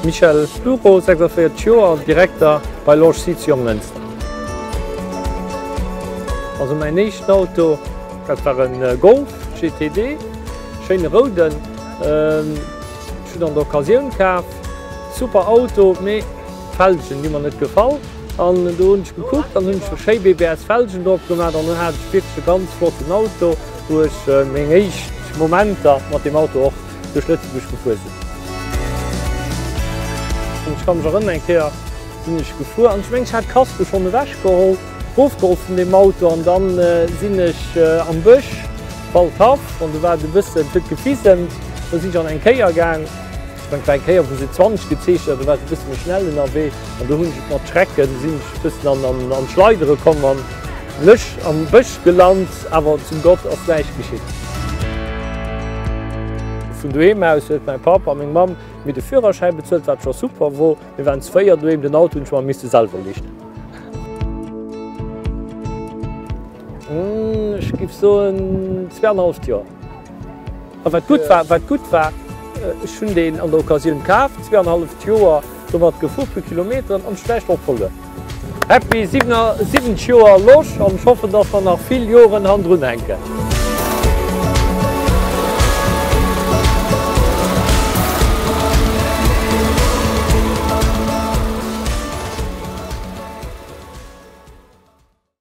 Michel Plureau, 46 Joer, Direkter bei Loge Sites Jonglënster. Also mäin éischten Auto, dat war e Golf GTD, schéine rouden. Ech hunn en an der Occasioun kaf, super Auto, mee d'Felgen hu mer net gefall. An do hunn ech gekuckt an hunn ech e schéi BBS Felgen drop gemaat an dunn haat ech wierklech e ganz flotten Auto wou ech meng éischt Momenter mat deem Auto och duerch Lëtzebuerg gefuer sinn. Ech ka mech erënneren eng Kéier sinn ech gefuer an ech mengen ech haat d'Kasko schonn ewech geholl, rofgeholl vun deem Auto an dann sinn ech am Bësch Waldhaff an do war et e bëssen huet gefisemt, do sinn ech an eng Kéier gaang. Mengt eng Kéier wou se 20 gezeechent hat, do war se e bëssen méi schnell ënnerwee an do hunn ech et mat Schrecken, sinn ech e bëssen an an d'Schleidere komm an Lësch am Bësch gelant, awer zum Gott ass näischt geschitt. Vun doheem aus huet mäi Papp a meng Mamm mir de Führerschäi bezuelt, wat scho super wor, mir waren zu véier doheem, den Auto hunn ech mer misste selwer lichten. Ech géif soen zwee an e halleft Joer. A wat gutt war, wat gutt war, ech hunn deen an der Occasioun kaf, zwee an halleft Joer domat gefu, puer Kilometeren, an schlecht ophuelen. Happy 77 Joer Losch an ech hoffen, dass mer nach vill Joren han drun hänken.